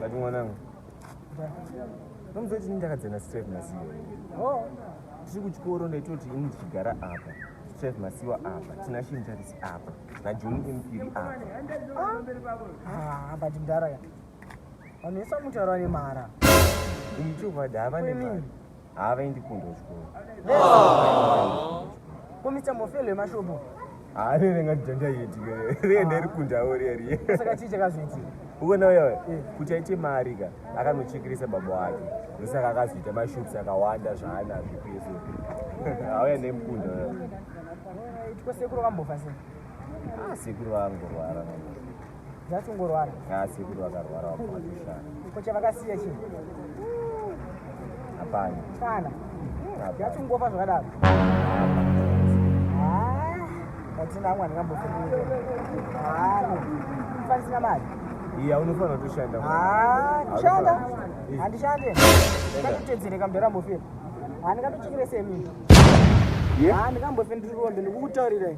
Bati mwanangu. Nomuzoti ndakadzana straight masiyo. Oh, tiri kuchikoro ndaitoti ini ndichigara apa. Chef Masiwa apa, Tina Shinjaris apa, na John Impiri apa. Ah, ah but ndara ya. Vanhu vese mutaura nemara. Umu chuvada havane mari. haavaendi kundo chikoro komitambo felo yemashopo haare renga nditanda yeti riye ndari kundawo riye riye saka chii chakazoitika uona uya uya Eh. kuti aite mari ka akanochekeresa baba wake ndosaka akazoita mashops akawanda zvaanazvo pese auya nemukunda uya Right, kwasekuru kambofa sei Ah, sekuru vangorwara Just kungorwara. Ah, sekuru vakarwara wakushana. Ko chavakasiya chii? Hapana. Kana. Just kungofa zvakadaro. Ah, atina amwe angambofunga. Ah, kufanisina mali. Iya unofanira kutoshanda. Ah, kushanda. Handishande. Ndakutedzere kamdara mbofira. Handikatochekere semi. Yeah. Handikambofendiri rombe ndikukutaurirai.